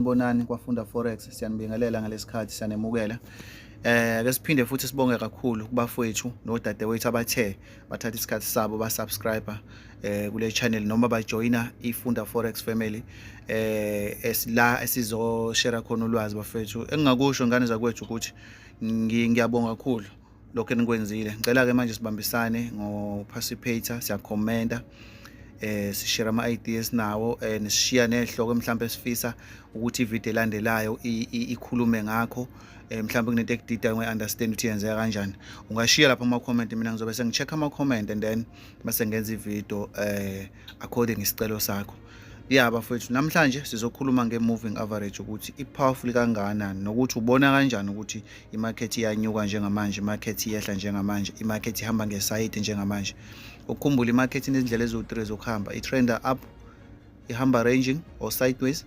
Sanibonani kwafunda forex siyanibingelela ngalesikhathi siyanemukela eh ake siphinde futhi sibonge kakhulu kubafowethu nodadewethu abathe bathatha isikhathi sabo ba subscriber eh kule channel noma ba joina ifunda forex family eh esila esizo share khona ulwazi bafethu engingakusho ngane zakwethu ukuthi ngiyabonga kakhulu lokho enikwenzile ngicela ke manje sibambisane ngo participator siya commenta eh sishare ama ideas nawo eh nishiya nehloko mhlawumbe sifisa ukuthi ivideo elandelayo ikhulume ngakho eh mhlawumbe kunento ekudida ngi understand ukuthi yenzeka kanjani ungashiya lapha ama comment mina ngizobe sengicheck ama comment and then base ngenza ivideo eh according isicelo sakho ya bafowethu namhlanje sizokhuluma nge-moving average ukuthi i-powerful kangakanani nokuthi ubona kanjani ukuthi imakhethi iyanyuka njengamanje imakhethi iyehla njengamanje imakhethi ihamba ngesayidi njengamanje ukukhumbula imakhethi inezindlela eziwu-3 zokuhamba i-trender up ihamba ranging or sideways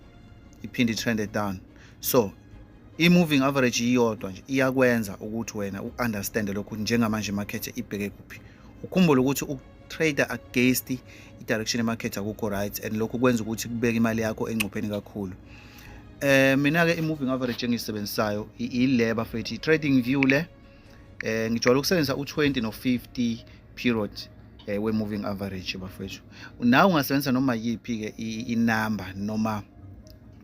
iphinde i-trende down so i-moving average iyodwa nje iyakwenza ukuthi wena u-understande lokhu njengamanje imakhethi ibheke kuphi ukhumbule ukuthi trader against i-direction yemarket akukho right and lokho kwenza ukuthi kubeke imali yakho engcupheni kakhulu eh mina-ke i-moving average engiyisebenzisayo ile bafethi i-trading view le eh ngijwayele ukusebenzisa u-20 no-50 period eh, we-moving average bafethu nawe ungasebenzisa noma yiphi-ke inamba noma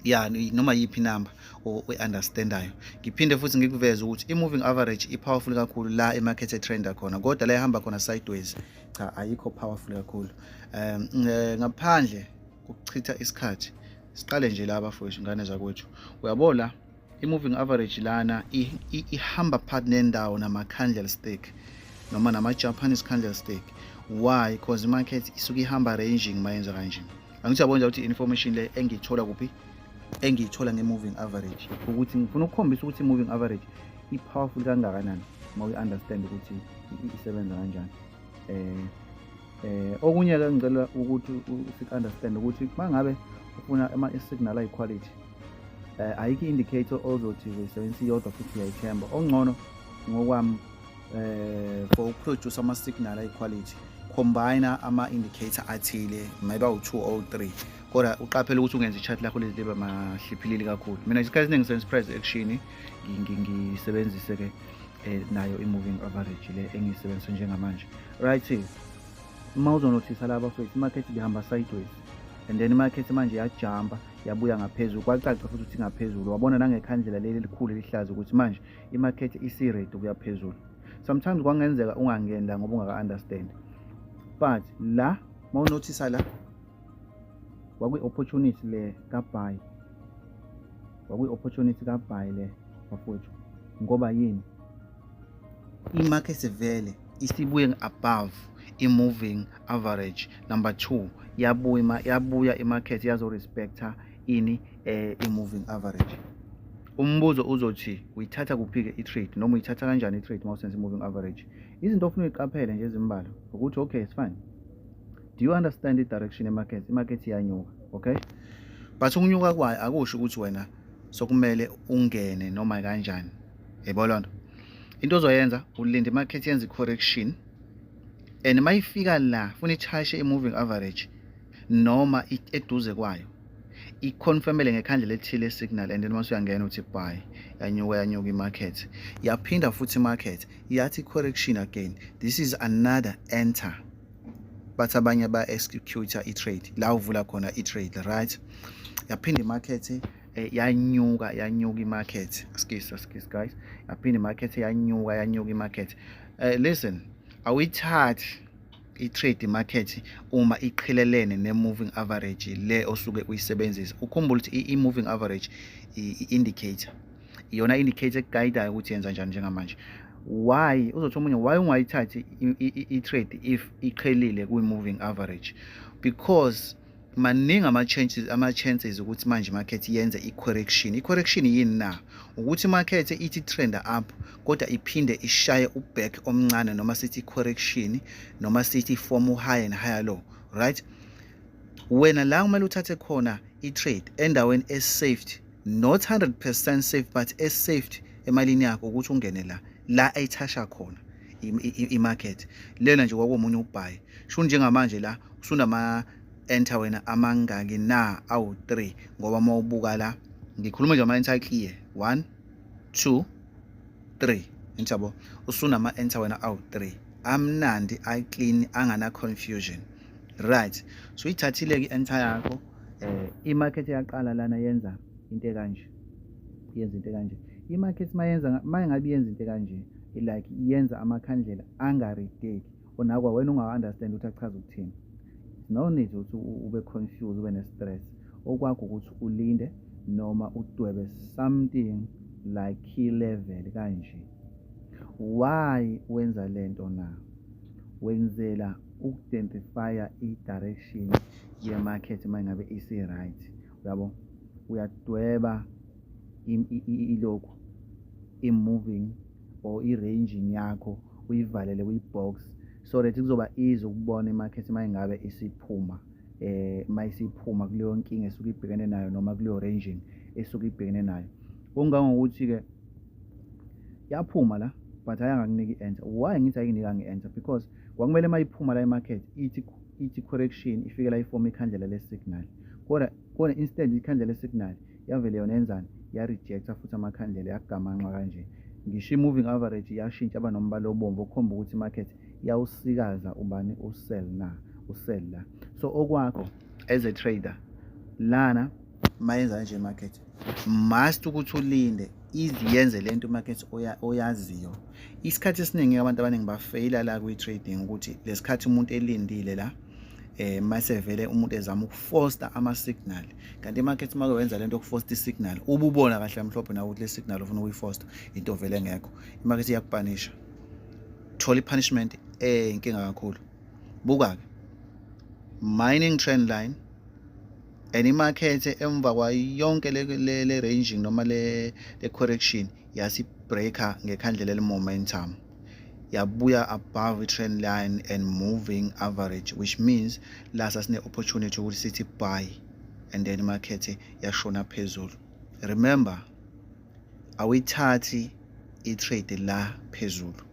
ya noma yiphi number oyi-understandayo ngiphinde futhi ngikuveze ukuthi i-moving average i-powerful kakhulu la emarket etrenda khona kodwa la ehamba khona sideways cha ayikho powerful kakhulu um ngaphandle kokuchitha isikhathi siqale nje la bafowethu ingane zakwethu uyabo la i-moving average lana ihamba phakathi nendawo nama-candle stick noma nama-japanese candle stick why because imarket isuke ihamba ranging mayenza kanje angithi yabona ukuthi information le engiyithola kuphi engiyithola nge-moving average ukuthi ngifuna ukukhombisa ukuthi i-moving average i-powerful kangakanani uma uyi-understand ukuthi isebenza kanjani um um okunye-ke ngicela ukuthi si-understand ukuthi uma ngabe ufuna ama-signal ayi-quality um ayikho i-indicator ozothi uyisebenzisa iyodwa futhi uyayithemba okungcono ngokwami eh for ukuproduce ama signal ay quality combine ama indicator athile maybe u2 or 3 kodwa uqaphele ukuthi ungenza i-chart lakho liba mahliphilili kakhulu mina isikhathi esiningi senza price action ngisebenzise ke eh, nayo i-moving average le engiyisebenzisa njengamanje right uma uzonothisa laba fethu i-market ibihamba sideways and then i-market manje yajamba yabuya ngaphezulu kwacaca futhi ukuthi ngaphezulu wabona nangekhandlela leli elikhulu elihlaza ukuthi manje imakhethe isi-rate ukuya phezulu sometimes kwangenzeka ungangeni la ngoba ungaka-understand but la uma unothisa la kwakwi-opportunity le kabhayi kwakwi-opportunity kabhayi le bafowethu ngoba yini imakhethe vele isibuye above i-moving average number two yabuya yabuya imakhethe yazo-respecta ini um i-moving average umbuzo uzothi uyithatha kuphi-ke i-trade noma uyithatha kanjani i-trade uma usenza i-moving average izinto ofuna uyiqaphele nje ezimbala ukuthi okay it's fine do you understand i-direction emarket imarket iyanyuka okay but ukunyuka kwayo akusho ukuthi wena sokumele ungene noma kanjani yebo loo nto into ozoyenza ulinda imarket yenza i-correction and uma ifika la funa ithashe i-moving average noma eduze kwayo iconfirmele ngekhandlela elithile isignal and then mase uyangena uthi buy yanyuka yanyuka imarket yaphinda futhi imarket yathi correction again this is another enter bathi abanye ba-executor i-trade la uvula khona i-trade right yaphinda imarket eh, yanyuka yanyuka imarket skis skis guys yaphinda imarket yanyuka yanyuka imarket uh, listen awuyithathi i-trade market uma iqhelelene ne-moving average le osuke uyisebenzisa ukhumbule ukuthi i-moving average i-indicator iyona indicator ekugayidayo ukuthi yenza njani njengamanje why uzothi omunye why ungayithathi i-trade if iqhelile kwi-moving average because maningi ama-chances ama-chances ukuthi manje market yenze i-correction i-correction yini na ukuthi market ithi trend up kodwa iphinde ishaye uback omncane noma sithi correction noma sithi form high and higher low right wena la kumele uthathe khona i-trade endaweni e-safety not 100% safe but e-safety emalini yakho ukuthi ungene la la ayithasha khona imarket lena nje kwakumunye ubhayi sho njengamanje la usunama enter wena amangaki na awu 3 ngoba uma ubuka la ngikhuluma nje ama enter clear 1 2 3 ngiyabo usunama enter wena awu 3 amnandi i clean angana confusion right so ithathile ke enter yakho eh imarket yaqala lana yenza into ekanje yenza into kanje i-market mayenza mayengabe yenza into kanje like yenza amakhandlela angarideki onakwa wena ungawa-understand ukuthi achaza ukuthini no need ukuthi ube confused ube ne-stress okwakho ukuthi ulinde noma udwebe something like key level kanje why wenza le nto na wenzela ukudentifya i-direction ye-market uma ngabe isi-right yabo uyadweba ilokhu i-moving or i-ranging yakho uyivalele kwi-box so that kuzoba easy ukubona imakhethi uma ingabe isiphuma eh uma isiphuma kuleyo nkinga esuke ibhekene nayo noma kuleyo ranging esuke ibhekene nayo kungangokuthi-ke yaphuma la but ayangakuniki i-answer why ngithi ayikuniki angi-answer because kwakumele uma iphuma la emakhethi ithi ithi correction ifikela ifomu ikhandlela lesignal kodwa kodwa instead ikhandlela lesignal yavele yona yenzani yarejecta futhi amakhandlela yagamanxa kanje ngisho i-moving average yashintsha aba nombala obomvu okukhomba ukuthi imarket yawusikaza ubani usell na usell la so okwakho as a trader lana mayenza nje market must ukuthi ulinde ize yenze le nto market oyaziyo isikhathi esiningi abantu abaningi bafeyila la kwi-trading ukuthi lesikhathi umuntu elindile la eh mase vele umuntu ezama ukufoster ama signal kanti imarket make wenza lento yokufoster isignal ububona kahle amhlophe nawe ukuthi le signal ufuna ukuyifoster into vele ngekho imarket iyakupanisha thola ipunishment eh inkinga kakhulu buka ke mining trend line and imakhethe emva kwayonke le-ranging noma le-correction yasibreaker ngekhandlela eli-momentum yabuya above i-trend line and moving average which means la sasine-opportunity ukuthi sithi buy and then imakhethe yashona phezulu remember awuyithathi i-trade la phezulu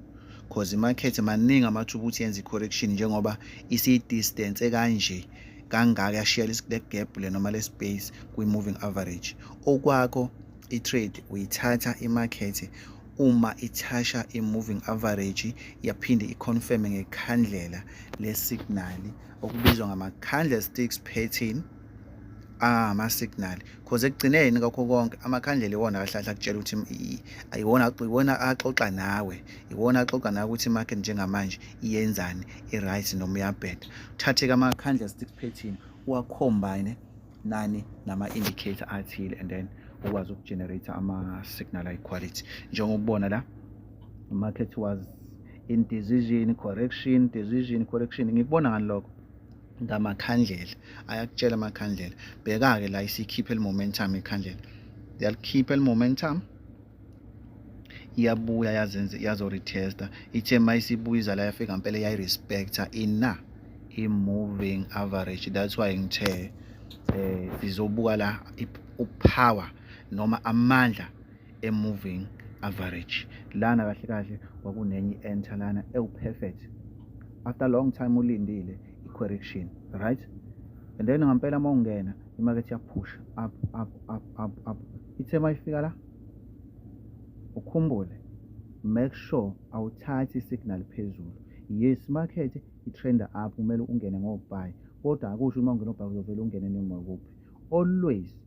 cause imakhethe maningi amathuba ukuthi yenze i-correction njengoba isiyi-distance kanje kangaka yashiya le gap le noma le space kwi-moving average okwakho i-trade uyithatha imakhethe uma ithasha i-moving average yaphinde i-confirme ngekhandlela le-signal okubizwa ngama-candlesticks pattern ah ama signal cause ekugcineni kakho konke amakhandlela iwona akahlahla kutshela ukuthi ayiwona iwona axoxa nawe iwona axoxa nawe ukuthi market njengamanje iyenzani i-right noma uyabheda uthathe-ke amakhandlela stick pattern uwacombine nani nama-indicator athile and then ukwazi ukugenerate ama-signal ayi-quality njengokubona la market was in decision correction decision correction ngikubona ngani lokho ngamakhandlela ayakutshela amakhandlela bheka-ke la isikhiphe li-momentum ikhandlela yalikhipha li-momentum iyabuya yazenze yazoretesta ithe ma isibuya izala yafika ngempela yayirespecta ina i-moving average that's why ngithe um sizobuka la upower noma amandla e-moving average lana kahle kahle kwakunenye i-enter lana ewu-perfect after long time ulindile i-correction right and then ngampela uma ungena imakethe yaphusha up up up up up ithe uma ifika la ukhumbule make sure awuthathi isignal phezulu yes market i-trender up kumele ungene ngobuy kodwa akusho uma ungena obhayi uzovele ungene noma kuphi always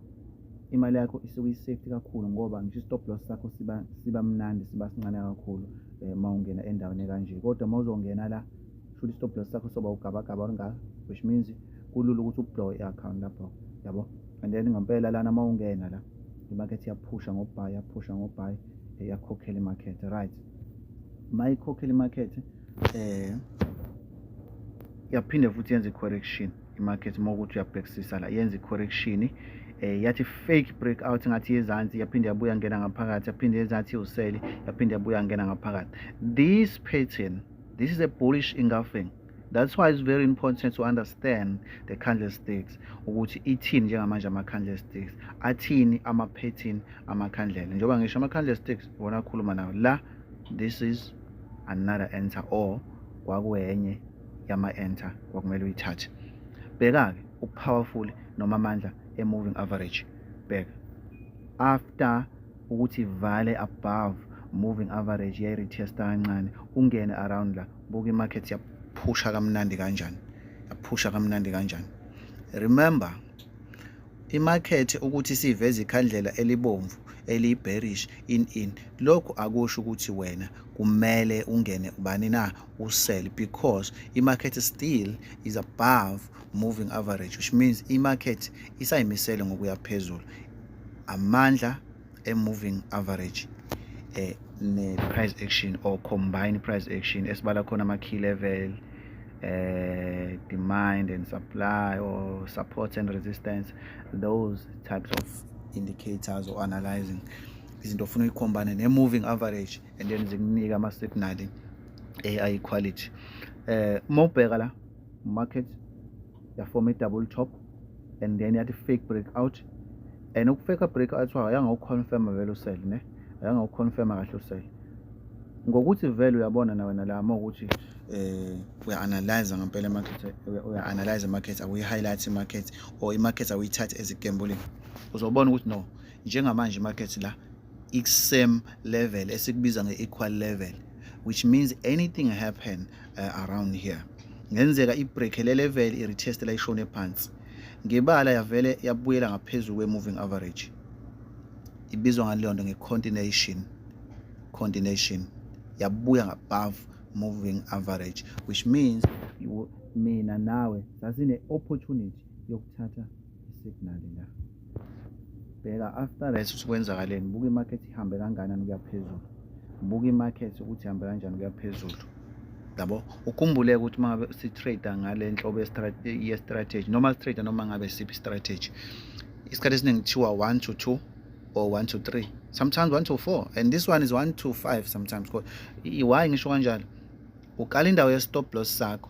imali yakho isuke i-safety kakhulu ngoba ngisho i-stop loss sakho siba siba mnandi siba sincane kakhulu eh, uma ungena endaweni kanje kodwa uma uzongena la shuthi i-stop loss sakho soba ugabagaba olungaka which means kulula ukuthi ublow i-account lapho yabo and then ngempela lana uma ungena la imakethe iyaphusha ngobhayi yaphusha ngobhayi eh, yakhokhela imakethe right uma ikhokhela imakethe um eh, yaphinde futhi yenze i-correction imarket uma ukuthi uyabhekisisa la yenza i-correction eh yathi fake breakout ngathi yezansi yaphinde yabuya ngena ngaphakathi yaphinde yezansi useli yaphinde yabuya ngena ngaphakathi this pattern this is a bullish engulfing that's why it's very important to understand the candlesticks ukuthi ithini njengamanje ama candlesticks athini ama pattern ama candle njengoba ngisho ama candlesticks wona akhuluma nawo la this is another answer or kwakuyenye yama-enter kwakumele uyithathe bheka-ke upowerful noma amandla e-moving average bheka after ukuthi vale above moving average yayiretesta kancane ungene around la buka i-market yaphusha kamnandi kanjani yaphusha kamnandi kanjani remember imakhethe ukuthi siveze ikhandlela elibomvu eliyi-bearish in in lokhu akusho ukuthi wena kumele ungene ubani na usell because i-market still is above moving average which means i-market isayimisele ngokuya phezulu amandla e-moving average eh, ne-price action or combined price action esibala khona ama-key level uh, demand and supply or support and resistance those types of indicators or analyzing izinto ofuna uyikhombane ne-moving average and then zikunike ama signal AI quality eh uma ubheka la market ya form a double top and then yathi fake breakout and ukufake breakout wayo yanga uconfirm vele usell ne yanga uconfirm kahle usell ngokuthi vele uyabona na wena la uma ukuthi eh uya analyze ngempela i market uya analyze i market akuyi highlight i market or i market awuyithathe as a gambling uzobona ukuthi no njengamanje i market la i-same level esikubiza nge-equal level which means anything happen uh, around here ngenzeka ibreak le level i-retest la ishone phansi ngebala yavele yabuyela ngaphezulu kwe-moving average ibizwa ngaleyo nto nge-continuation continuation yabuya ngabove moving average which means mina nawe sasine-opportunity yokuthatha isignal la bheka after leso sikwenzakaleni buka imarket ihambe kanganani kuya phezulu buka imarket ukuthi ihambe kanjani kuya phezulu yabo ukhumbuleke ukuthi uma ngabe si-trader ngale nhlobo ye-strategy noma si-trader noma ngabe siphi strategy isikhathi esiningi kuthiwa one to two or one to three sometimes one to four and this one is one to five sometimes because why ngisho kanjalo uqala indawo ye-stop loss sakho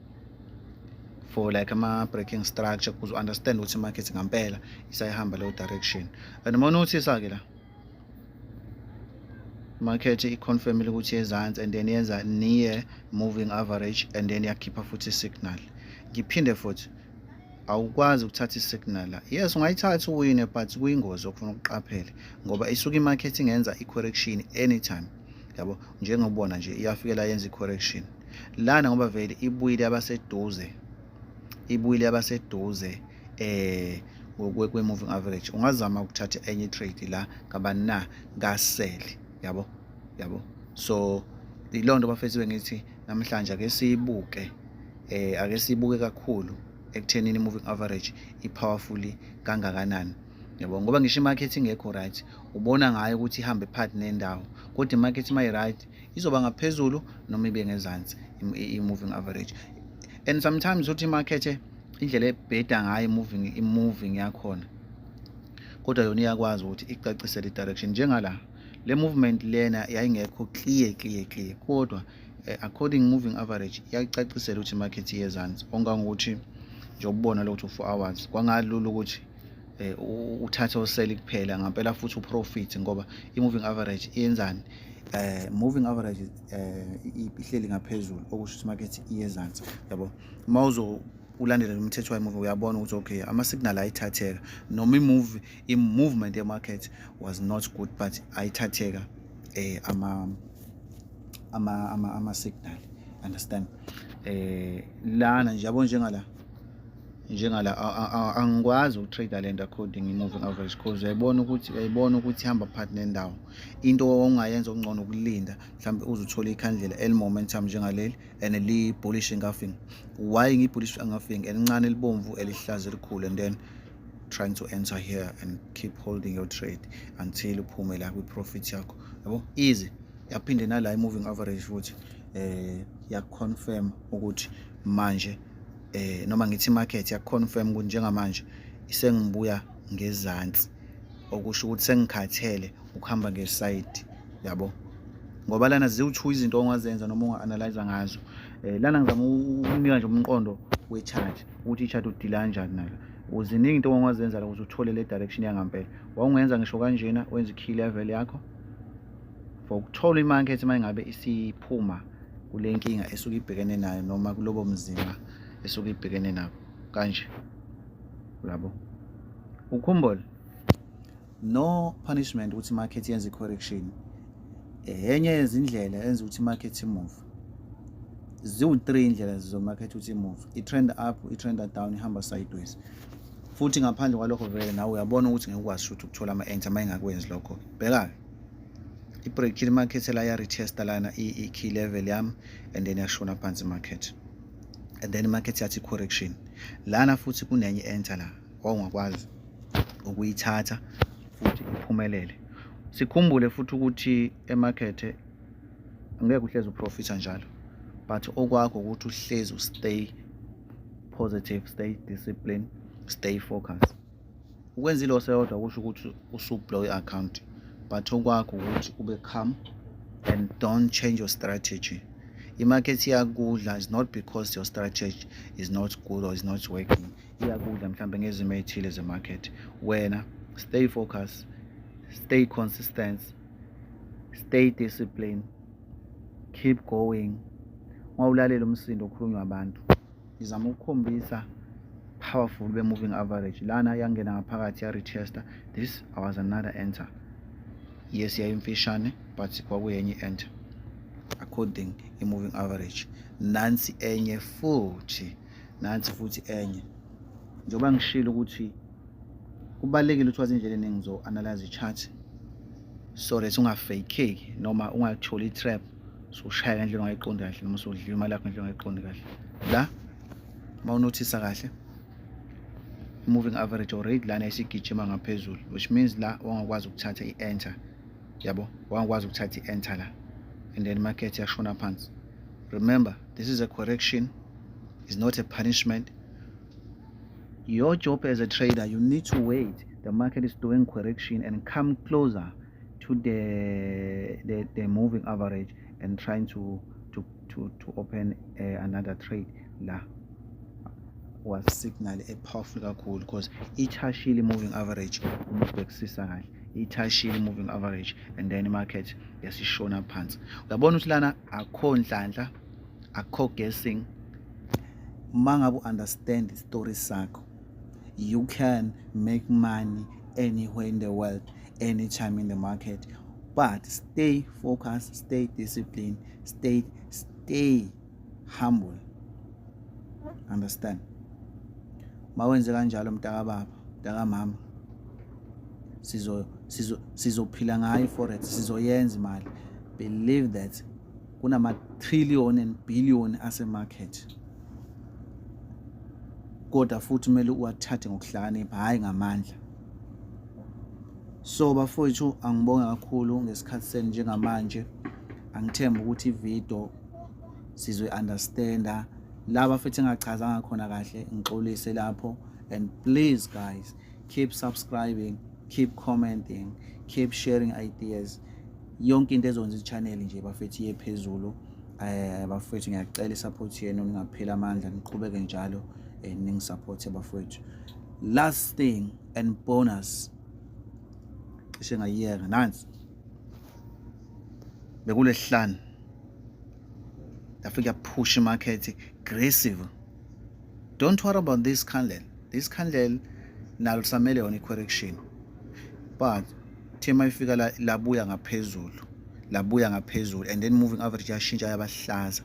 for like ama-breaking structure kuze understand ukuthi i-market ngampela isayihamba leyo direction and uma unothisa-ke la market i-confirmile ukuthi yezansi and then yenza near moving average and then yakhipha futhi i-signal ngiphinde futhi awukwazi ukuthatha i-signal la yes ungayithatha uwine but kuyingozi okufuna ukuqaphele ngoba isuke i-market ingenza i-correction anytime yabo njengobona nje iyafikela yenza i-correction lana ngoba vele ibuyile abaseduze ibuyile abaseduze eh kwe-moving average ungazama ukuthatha enye trade la ngabani na kasele yabo yabo so yiloo nto bafethiwe ngithi namhlanje ake siyibuke eh ake siyibuke kakhulu ekuthenini i-moving average i-powerfully kangakanani yabo ngoba ngisho imarket ingekho right ubona ngayo ukuthi ihambe part nendawo kodwa imarket uma i-right izoba ngaphezulu noma ibe ngezansi i-moving average and sometimes uthi imarket indlela ebheda ngayo i-moving i-moving yakhona kodwa yona iyakwazi ukuthi icacise le direction njengala le movement lena yayingekho clear clear clear kodwa eh, according moving average yayicacisela ukuthi imarket iyezansi ongangokuthi njengoba ubona lo kuthi u-four hours kwangalula ukuthi eh uthathe oseli kuphela ngampela futhi uprofit ngoba i-moving average iyenzani eh moving average eh ihleli ngaphezulu okusho ukuthi market iyezansi yabo uma uzo ulandele lo mthetho wayimuvi uyabona ukuthi okay ama-signal ayithatheka noma imuvi i-movement ye-market was not good but ayithatheka eh ama ama ama ama signal understand eh lana nje yabo njengala njengala angikwazi ukutrader lento according i-moving average cause uyayibona ukuthi uyayibona ukuthi ihamba phakathi nendawo into ongayenza okungcono ukulinda mhlawumbe uze uthole ikhandlela eli-momentum njengaleli and li-bullish engafing why ngi-bullish engafing elincane elibomvu elihlaza elikhulu and then trying to enter here and keep holding your trade until uphume la kwi-profit yakho yabo easy yaphinde nala i-moving average futhi um eh, yakuconfirm ukuthi manje eh noma ngithi market ya confirm ukuthi njengamanje isengibuya ngezantsi okusho ukuthi sengikhathele ukuhamba ngeside yabo ngoba lana ziwu-two izinto ongazenza noma unga-analyza ngazo um lana ngizama ukunika nje umqondo we-charge ukuthi i-charge udila kanjani nalo uziningi into ongazenza la ukuze uthole le direction yangampela wawungenza ngisho kanjena wenza ikhili level yakho for ukuthola imakethe uma ingabe isiphuma kule nkinga esuke ibhekene nayo noma kulobo mzima esuke ibhekene nabo kanje labo ukhumbule no punishment ukuthi market yenze correction enye yezindlela enza ukuthi market move ziwu-three indlela zizomakhetha ukuthi imove i-trend up i-trend down ihamba sideways futhi ngaphandle kwalokho vele nawe uyabona ukuthi ngeke ukwazi ukuthi ukuthola ama-ent uma engakwenzi lokho-ke bheka-ke ibreakile imarket la yaretesta lana i-key level yami and then yashona phansi imarket and then imarket yathi correction lana futhi kunenye enter la wawungakwazi ukuyithatha futhi iphumelele sikhumbule futhi ukuthi emakethe ngeke uhlezi uprofitha njalo but okwakho ukuthi uhlezi ustay positive stay discipline stay focused ukwenza iloss eyodwa kusho ukuthi usublow i-account but okwakho ukuthi ube calm and don't change your strategy i-market iyakudla is not because your strategy is not good or is not working iyakudla mhlawumbe ngezimo ey'thile ze-market wena stay focus stay consistent stay discipline keep going ngoba ulalela umsindo okhulunywa abantu ngizama ukukhombisa powerful be-moving average lana yangena ngaphakathi ya-retester this was another enter yes yayimfishane but kwakuyenye i-enter according i-moving average nansi enye futhi nansi futhi enye njengoba ngishilo ukuthi kubalulekile ukuthi wazi indlela eningi zo-analyze i-chart so that ungafakeki noma ungatholi i-trap soshaya ngendlela ongayiqondi kahle noma sodliwa imali yakho ngendlela ongayiqondi kahle la uma unothisa kahle moving average already lana isigijima ngaphezulu which means la wangakwazi ukuthatha i-enter yabo wangakwazi ukuthatha i-enter la and then market yashona phansi remember this is a correction is not a punishment your job as a trader you need to wait the market is doing correction and come closer to the, the, the moving average and trying to, to, to, to open uh, another trade la was signal a powerful kakhulu because ithashile moving average uma ubhekisisa kahle ithashile moving average and then market yasishona phansi uyabona ukuthi lana akho nhlanhla akho guessing uma ngabe u-understand i-story sakho you can make money anywhere in the world anytime in the market but stay focused stay disciplined stay stay humble understand mawenze kanjalo mntakababa mntakamama sizo sizophila ngayo forex sizoyenza imali believe that kunama-trillion and billion asemarket kodwa futhi kumele uwathathe ngokuhlakanipha hhayi ngamandla so bafowethu angibonge kakhulu ngesikhathi senu njengamanje angithemba ukuthi ividiyo sizoyi-understanda laba futhi engachazanga khona kahle ngixolise lapho and please guys keep subscribing keep commenting keep sharing ideas yonke into ezokwenza i-channel nje bafethu iye phezulu eh bafethu ngiyacela i-support yenu ningapheli amandla niqhubeke njalo eh, ningisupporte bafethu last thing and bonus cishe ngayiyeka nansi bekulesihlanu yafike yaphusha imakhethi aggressive don't worry about this candle isikhandlela nalo lisamele yona i-correction but team ayifika la labuya ngaphezulu labuya ngaphezulu and then moving average yashintsha yabahlaza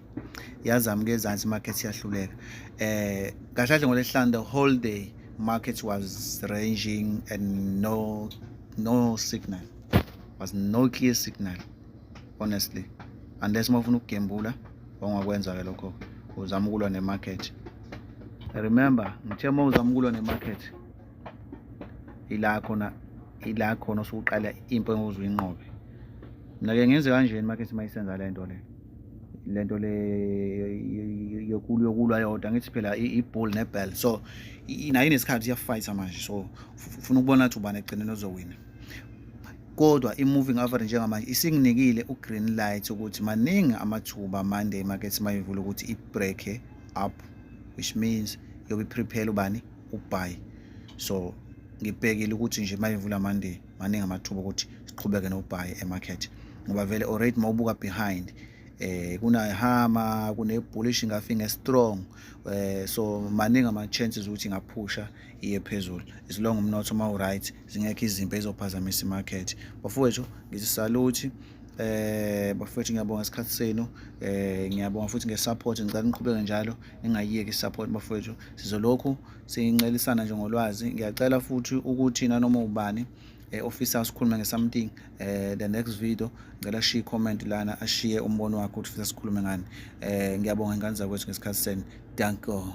yazama ke ezansi market yahluleka eh kahle kahle ngolesihlanu the whole day market was ranging and no no signal was no clear signal honestly unless uma ufuna ukugembula ongakwenza ke lokho uzama ukulwa nemarket remember ngithe uma uzama ukulwa nemarket ila khona ila khona usuqala impo enguze uyinqobe mina ke ngenze kanjeni market uma isenza le nto le le nto le yokulwa yodwa ngithi phela iball nebell so nayo inesikhathi iyafayitha manje so ufuna ukubona ukuthi ubani ekugcineni ozowina kodwa i-moving average njengamanje isinginikile u-green light ukuthi maningi amathuba monday market mayivula ukuthi i-breake up which means yobe i-prepare ubani ubuy so ngibhekile ukuthi nje mayivula monday maningi amathuba ukuthi siqhubeke nobuy e-market ngoba vele already mawubuka behind eh kunahama kunebullish ngafi ngestrong eh so maningi ama chances ukuthi ngaphusha iye phezulu as long umnotho ma u right zingekho izimpi ezizophazamisa imarket bafowethu ngisisaluthi eh bafethu ngiyabonga isikhathi senu eh ngiyabonga futhi ngesupport ngicela niqhubeke njalo ningayiyeki isupport bafethu sizolokhu sincelisana nje ngolwazi ngiyacela futhi ukuthi nanoma ubani eh, ofisa asikhulume ngesomething eh the next video ngicela ashiye comment lana ashiye umbono wakhe ukuthi ufisa sikhulume ngani eh ngiyabonga ingane zakwethu ngesikhathi senu danko